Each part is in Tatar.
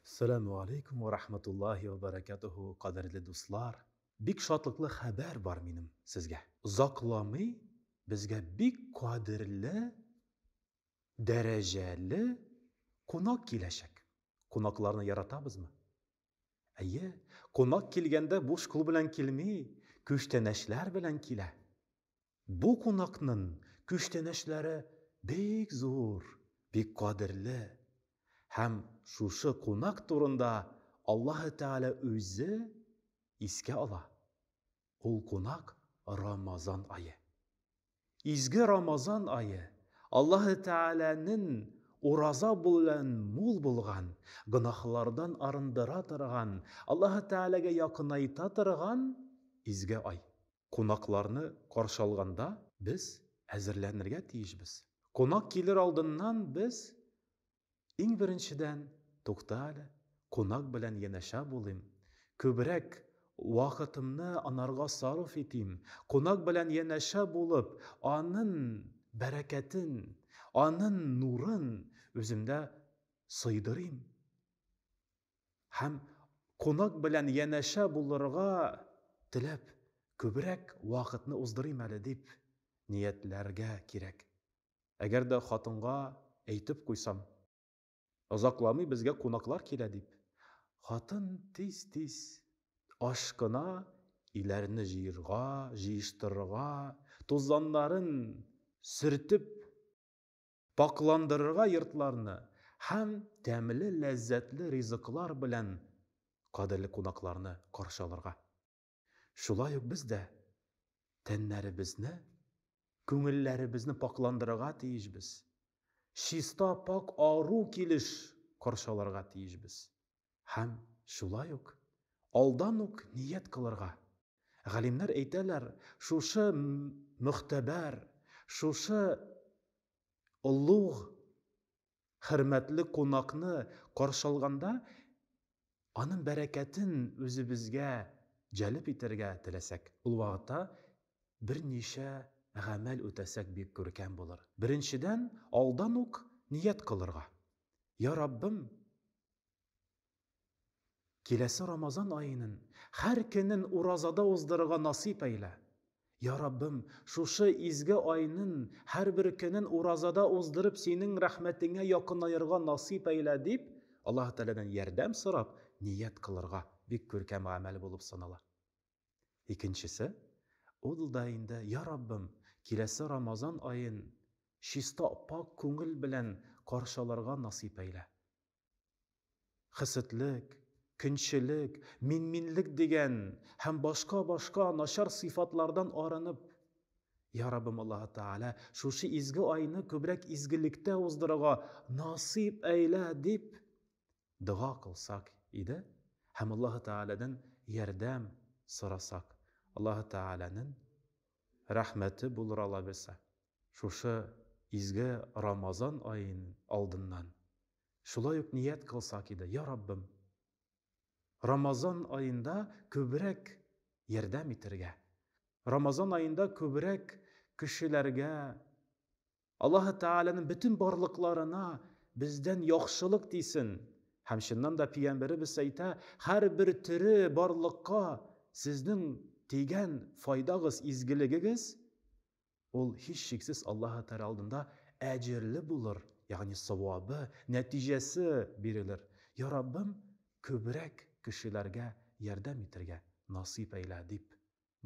Саләмү алейкум вә рахматуллахи вә бәрәкәтүһү, кадерле дуслар! Бик шатлыклы хәбәр бар минем сезгә. Озакламый безгә бик кадерле, дәрәҗәле кунак киләчәк. Кунакларны яратабызмы? Әйе, кунак килгәндә буш кул белән килми, күчтәнәчләр белән килә. Бу кунакнын күчтәнәчләре бик зур, бик кадерле. Һәм шушы кунак турында Аллаһы Тәгалә үзе искә ала. Ул кунак, Рамазан ае. Изге Рамазан ае, Аллаһы Тәгаләнен ураза белән мул булган, гөнаһлардан арындыра торган, Аллаһы Тәгаләгә якынайта торган изге ай. Кунакларны каршы алганда без әзерләнергә тиешбез. Кунак килер алдыннан без, иң беренчедән, тукта әле, кунак белән янәшә булыйм, күбрәк вакытымны анарга сарыф итим, кунак белән янәшә булып, анын бәрәкәтен, анын нурын үземдә сыйдырыйм. Һәм кунак белән янәшә булырга теләп, күбрәк вакытны уздырыйм әле дип ниятләргә кирәк. Әгәр дә хатынга әйтеп куйсам, озакламый безгә кунаклар килә дип, хатын тиз-тиз ашкына, өйләрне җыерга, җыештырырга, тузаннарын сөртеп, Пакьландырырга йортларны һәм тәмле ләззәтле ризыклар белән кадерле кунакларны каршы алырга. Шулай ук без дә тәннәребезне, күңелләребезне пакьландырырга тиешбез, чиста, пакь ару килеш каршы алырга тиешбез. Һәм шулай ук алдан ук ният кылырга. Галимнәр әйтәләр, шушы могтәбәр, шушы олуг, хөрмәтле кунакны каршы алганда, аның бәрәкәтен үзебезгә җәлеп итәргә теләсәк, ул вакытта берничә гамәл үтәсәк, бик күркәм булыр. Беренчедән, алдан ук ният кылырга. Я Раббым, Киләсе Рамазан аенын һәр көнен уразада уздырырга насыйп әйлә. Я Раббым, шушы изге айнын һәрбер көнен уразада уздырып синең рәхмәтеңә якынаерга насыйп әйлә дип, Аллаһы Тәгаләдән ярдәм сорап ният кылырга бик күркәм гамәл булып санала. Икенчесе, ул да инде, Я Раббым, киләсе Рамазан аен чиста, пакь күңел белән каршы алырга насыйп әйлә. Хеседлек, көнчелек, мин-минлек дигән һәм башка-башка начар сыйфатлардан арынып, Я Раббым Аллаһы Тәгалә, шушы изге айны күбрәк изгелектә уздырырга насыйп әйлә, дип дога кылсак иде һәм Аллаһы Тәгаләдән ярдәм сорасак, Аллаһы Тәгаләнең рәхмәте булыр алабилсә, шушы изге Рамазан аеның алдыннан шулай ук ният кылсак иде, Я Раббым, Рамазан аенда күбрәк ярдәм итәргә, Рамазан аенда күбрәк кешеләргә Аллаһы Тәгаләнең бөтен барлыкларына бездән яхшылык тисен. Һәм чыннан да пиямберебез әйтә, һәрбер тере барлыкка сезнең тигән файдагыз, изгелегегез ул һичшиксез Аллаһы Тәгалә алдында әҗерле булыр, ягъни савабы, нәтиҗәсе бирелер. Я Раббым, күбрәк кешеләргә ярдәм итәргә насыйп әйлә, дип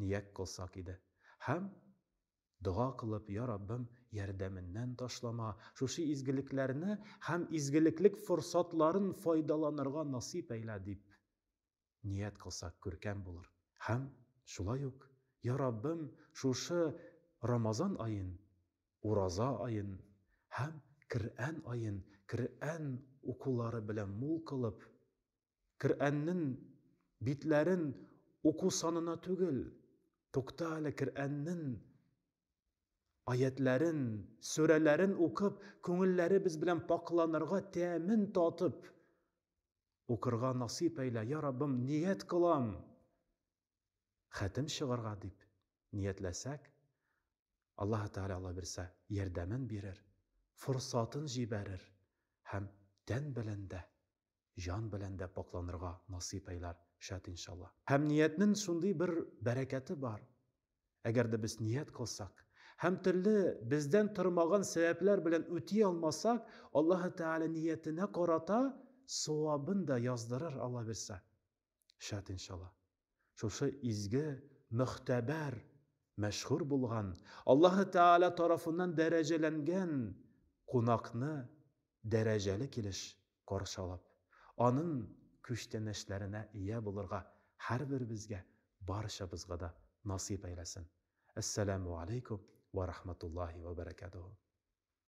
ният кылсак иде. Һәм Дога кылып, Я Раббым, ярдәменнән ташлама, шушы изгелекләрне һәм изгелеклек форсатларын файдаланырга насыйп әйлә, дип ният кылсак күркәм булыр. Һәм шулай ук, Я Раббым, шушы Рамазан аен, ураза аен һәм Крәән аен Крәән укулары белән мул кылып, Керәннен битләрен уку санына түгел, тукта әле Керәннен аятьләрен, сүрәләрен укып, күңелләребез белән пакъланырга, тәмен татып укырга насыйп әйлә, я Раббым, ният кылам. хәтем чыгарга дип ниятләсәк, Аллаһы Тәгалә Алла бирсә ярдәмен бирер, форсатын җибәрер һәм тән белән дә, җан белән дә пакъланырга насыйп әйләр, шәт иншалла. Һәм ниятнен шундый бер бәрәкәте бар, әгәр дә без ният кылсак һәм төрле бездән тормаган сәбәпләр белән үти алмасак, Аллаһы Тәгалә ниятенә карата савабын да яздырыр Алла бирсә. Шәт иншалла. Шушы изге, мөхтәбәр, мәшһүр булган, Аллаһы Тәгалә тарафыннан дәрәҗәләнгән кунакны дәрәҗәле килеш каршы алып, аның күчтәнәчләренә ия булырга һәрберебезгә, барчабызга да насыйп әйләсен. Әссәламү алейкум вә рахматуллаһи вә бәрәкәтүһү.